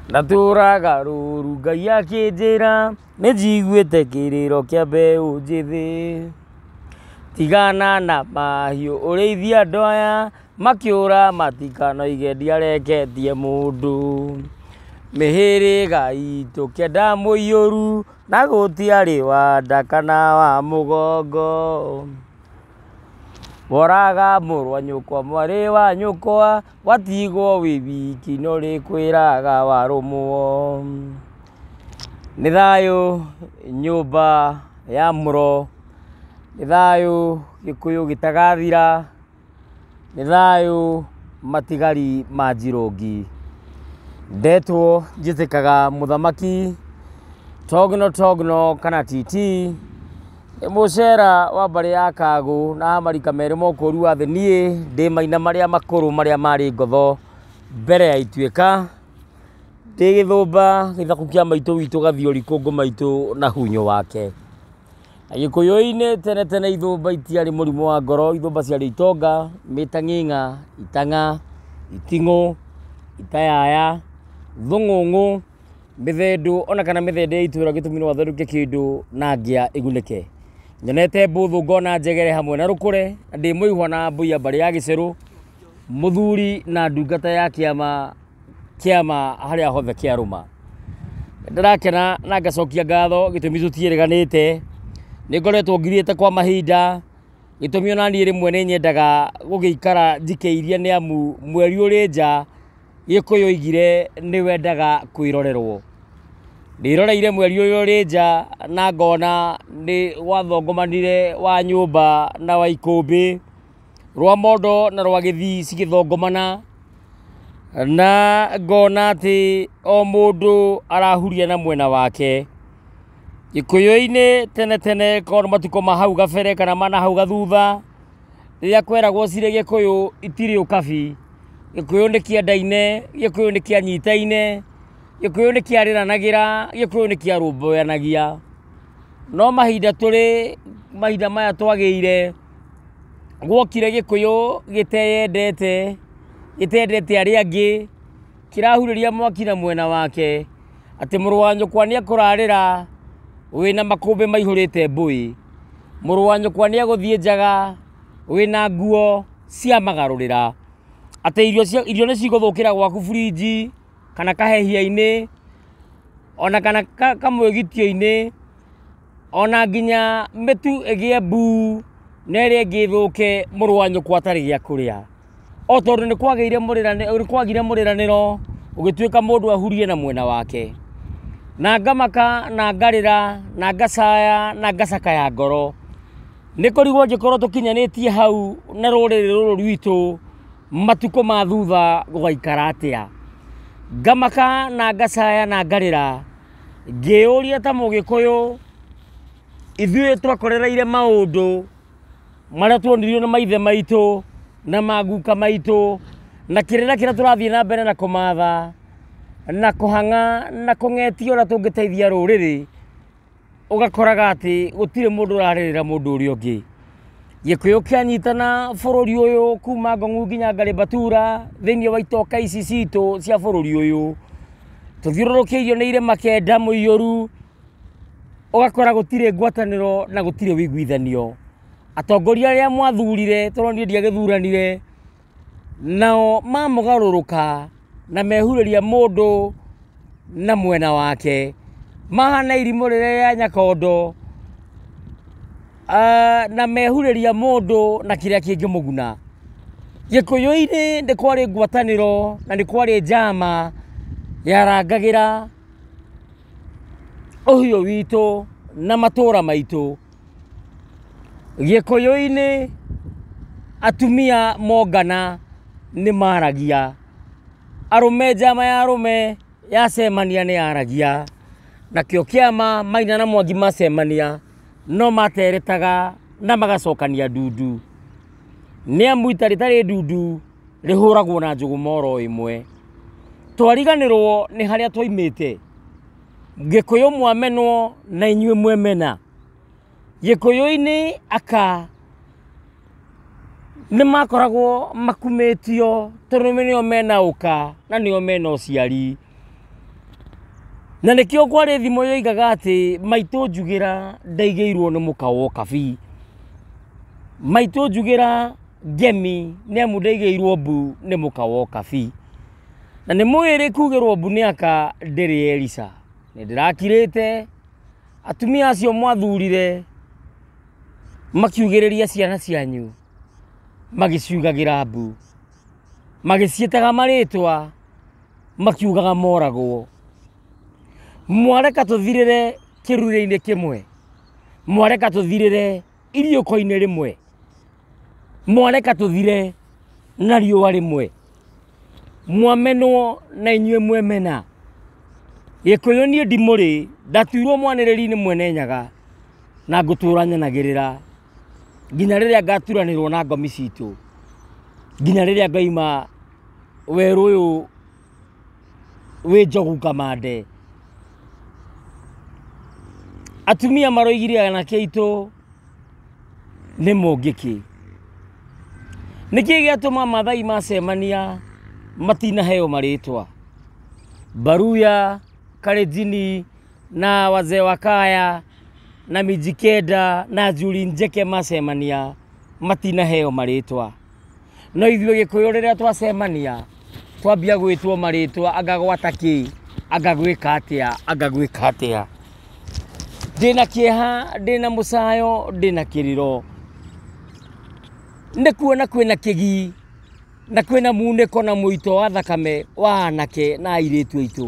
Ndatũraga rũru Ngai akĩnjĩra nĩ njiguĩte kĩrĩro kĩa mbeũ njĩthĩ. Tigana na mahiũ ũrĩithie andũ aya makĩũra matikanoige ndiareketie mũndũ. Mĩhĩrĩga itũ kenda mũiyũru na gũtiarĩ wa nda kana wa mũgongo. Woraga mũrũ wa nyũkwa mwarĩ wa nyũkwa. Watigwo wĩ wiki no rĩkwĩraga warũmwo, nĩ thayũ nyũmba ya mũro, nĩ thayũ gĩkũyũ gĩtagathira, nĩ thayũ matigari ma Njirũngi. Ndetwo njĩtĩkaga mũthamaki, togno togno kana titi. Mũcera wa mbarĩ ya Kagũ na wa marika merĩ ma ũkũũru wa thĩ niĩ ndĩ maina marĩa makũrũ marĩa marĩ ngotho mbere ya ituĩka, ndĩ gĩthũmba gĩthaku kĩa maitũ witũ Gathiori kũngũ maitũ na hunyo wake. Na gĩkũyũ-inĩ tene tene ithũmba itiarĩ mũrimũ wa ngoro, ithũmba ciarĩ itonga, mĩtang'ing'a, itang'a, iting'ũ, itayaya, thũng'ũng'ũ. mĩthendũ ona kana mĩthende ya itũra gĩtũmi no atherũke kĩndũ na ngĩa ĩgunĩke nyonete mbũthũ ngona njegere hamwe na rũkũre na ndĩ mũihwa na mbũiya mbarĩ ya gĩcerũ mũthuri na ndungata ya kĩama kĩama harĩa hothe kĩarũma ndĩrakena na ngacokia ngatho gĩtũmi tũtiĩrĩganĩte nĩ ngoretwo ngirĩte kwa mahinda gĩtũmi ona niĩ rĩmwe nĩ nyendaga gũgĩikara njikĩirie nĩ amu mweri ũrĩ nja Gĩkũyũ oigire nĩ wendaga kwĩrorerwo. Ndĩroreire mweri ũyũ ũrĩ nja na ngona nĩ gwathongomanire wa nyũmba na wa ikũmbĩ, rwa mondo na rwa gĩthii cigĩthongomana, na ngona atĩ o mũndũ arahuria na mwena wake. Gĩkũyũ-inĩ tene tene korwo nĩ matukũ ma hau kabere kana ma na hau gathutha... rĩrĩa kweragwo cirĩ gĩkũyũ itirĩ ũkabi, gĩkũyũ nĩ kĩendaine, gĩkũyũ nĩ kĩanyitaine, gĩkũyũ nĩ kĩarĩranagĩra, gĩkũyũ nĩ kĩarũmbũyanagia. No mahinda tũrĩ, mahinda maya twagĩire, gwokire gĩkũyũ gĩteyendete, gĩtendete arĩa angĩ. Kĩrahurĩria mwaki na mwena wake, atĩ mũrũ wa nyũkwa nĩekũrarĩra wĩna makũmbĩ maihũrĩte mbũĩ, mũrũ wa nyũkwa nĩegũthiĩ njaga wĩna nguo cia magarũrĩra, atĩ irio cia irio nĩcigũthũkĩra gwaku burinji, kana kahehia-inĩ, ona kana ka kamũĩgitio-inĩ, ona nginya mĩtu ĩgĩe mbuu, nerĩa ĩngĩ ĩthũke mũrũ wa nyũkwa atarĩ gĩa kũrĩa. O tondũ nĩ kwagĩire mũrĩranĩro, nĩ kwagire mũrĩranĩro ũgĩtuĩka mũndũ ahurie na mwena wake. Na ngamaka na ngarĩra na ngacaya na ngacakaya ngoro. Nĩ kũrigwo njĩkorwo tũkinyanĩtie hau na rũrĩrĩ rũrũ rwitũ matukũ ma thutha gũgaikara atĩa. Ngamaka na ngacaya na ngarĩra ngĩyũria ta mũgĩkũyũ ithuĩ twekorereire maũndũ... marĩa tuonirio nĩ maithe maitũ na maguka maitũ na kĩrĩra kĩrĩa tũrathiĩ na mbere na kũmatha na kũhang'a na kũng'etia ũrĩa tũngĩteithia rũrĩrĩ ũgakoraga atĩ gũtirĩ mũndũ ũrarĩrĩra mũndũ ũrĩa ũngĩ gĩkũyũ kĩanyitana bũrũri ũyũ kuma ngong'u nginya ngarĩ mbatura thĩinĩ wa itoka ici citũ cia bũrũri ũyũ tũthiũrũrũkĩirio nĩ irĩma kenda mũiyũru ũgakora gũtirĩ ngwatanĩro na gũtirĩ ũiguithanio. Atongoria arĩa mwathurire tondũ niĩ ndiagĩthuranire, nao mamũgarũrũka na mehurĩria mũndũ na mwena wake, mahana irimũ rĩrĩa rĩa nyakondo, na mehurĩria mũndũ na kĩrĩa kĩngĩmũguna. Gĩkũyũ-inĩ nĩ kwarĩ ngwatanĩro na nĩ kwarĩ njama yarangagĩra. ũhiũ witũ na matũra maitũ. Gĩkũyũ-inĩ atumia mongana nĩ maragia, arũme njama ya arũme yacemania nĩ yaragia, nakĩo kĩama Maina na Mwangi macemania no materetaga na magacokania ndundu. Nĩ amu ita rĩtarĩ ndundu rĩhũragwo na njũgũma oro ĩmwe. twariganĩrwo nĩ harĩa twaimĩte gĩkũyũ mwamenwo na inyuĩ mwemena gĩkũyũ-inĩ aka nĩ makoragwo makumĩtio tondũ nĩo mena ũka na nĩo mena ũciari na nĩkĩo kwarĩ thimo yoigaga atĩ maitũ njugĩra ndaigĩirwo nĩ mũka wa ũkabi maitũ njugĩra ngemi nĩ amu ndaigĩirwo mbu nĩ mũka wa ũkabi. Na nĩ mũĩ rĩ kugĩrwo mbu nĩ aka ndĩrĩ Elica. Nĩ ndĩrakirĩte, atumia acio mwathurire makiugĩrĩria ciana cianyu magĩciugagĩra mbu, magĩciĩtaga marĩtwa makiugaga moragwo. Mwareka tũthirĩre kĩrururia-inĩ kĩmwe, mwareka tũthirĩre... iriũko-inĩ rĩmwe mwareka tũthire na riũa rĩmwe mwamenwo na inyuĩ mwemena gĩkũyũ niĩ ndimũrĩ ndatuirwo mwanĩrĩri-inĩ mwene nyaga na ngũtũra nyanagĩrĩra nginya rĩrĩa ngaturanĩrwo na ngomi citũ nginya rĩrĩa ngaima werũ ũyũ wĩ njogu kamande atumia maroigire anake aitũ nĩ mũngĩkĩ nĩkĩ gĩatũma mathai macemania matinaheo marĩtwa baruya karejini na wazee wa kaya na mijikenda na njuri njeke macemania matinaheo marĩtwa No ithuĩ gĩkũyũ rĩrĩa twacemania twambia gwĩtwo marĩtwa anga gwata kĩ anga gwĩka atĩa anga gwĩka atĩa ndĩna kĩeha ndĩna mũcayo ndĩna kĩrĩro nĩ kuona kwĩna kĩgii na kwĩna munĩko na mũito wa thakame wa anake na airĩtu aitũ.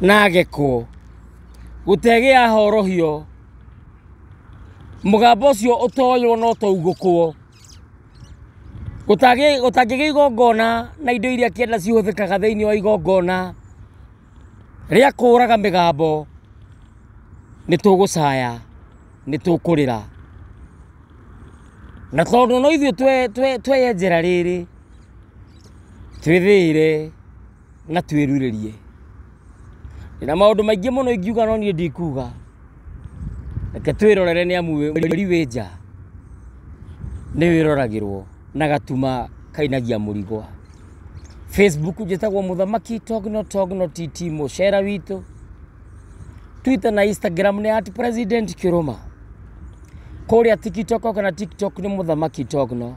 na gĩko gũtegĩa horohio mũgambo ũcio ũtoywo na ũtaugũkwo gũtangĩgĩa igongona na indo iria kĩanda cihũthĩkaga thĩinĩ wa igongona rĩa kũraga mĩgambo nĩ tũgũcaya nĩ tũkũrĩra na tondũ no ithuĩ tweyenjera rĩrĩ twĩthĩĩre. na twĩrirĩrie na maũndũ maingĩ mũno ingiuga no niĩ ndikuga reke twĩrorere nĩ amu wĩri wĩ nja nĩ wĩroragĩrwo na gatuma kainagia mũrigo facebook njĩtagwo mũthamaki togno togno tt mũcera witũ twitter na instagram nĩ at president kĩrũma kũrĩa tiktok kana tiktok nĩ mũthamaki togno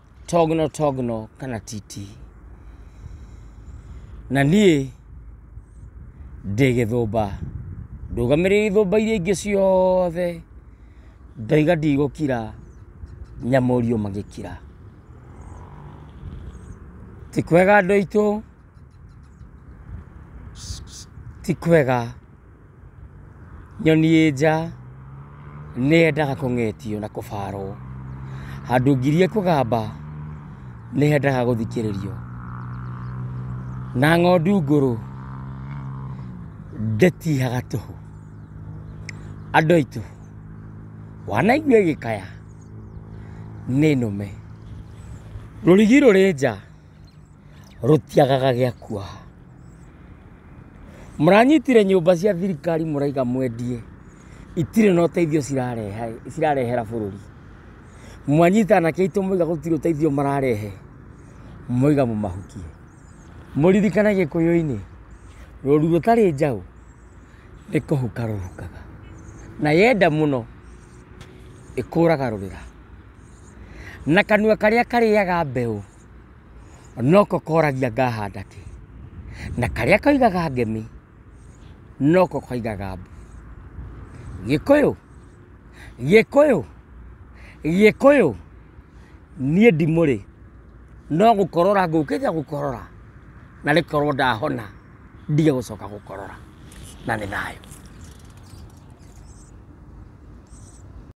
togno togno kana titi na niĩ ndĩ gĩthũmba ndũgamĩrĩire ithũmba iria ingĩ ciothe ndoiga ndigũkira nyamũrio magĩkira ti kwega andũ aitũ ti kwega. Nyoni ĩ nja nĩ yendaga kũng'etio na kũbarwo. Handũ ngirie kũgamba nĩ yendaga gũthikĩrĩrio. Na ng'ondu ngũrũ ndĩtihaga tũhũ. Andũ aitũ, wanaigua ĩgĩkaya nĩ nũme. Rũrigi rũrĩ nja. rũtiagaga gĩa kuoha. Mũranyitire nyũmba cia thirikari mũraiga mwendie, itirĩ na ũteithio cirarehera bũrũri. Mwanyita anake aitũ mwaiga gũtirĩ ũteithio mararehe, mwaiga mũmahukie. Mũririkane Gĩkũyũ-inĩ, rũru rũtarĩ njaũ nĩ kũhuka rũhukaga, na yenda mũno ĩkũraga rũrĩra. Na kanua karĩa karĩaga mbeũ. noko koragia ngahanda kĩ, na karĩa koigaga ngemi noko koigaga mbu. Gĩkũyũ, Gĩkũyũ, Gĩkũyũ, niĩ ndimũrĩ no gũkorora ngũkĩte gũkorora na nĩ korwo ndahona ndige gũcoka gũkorora. Na nĩ thayũ.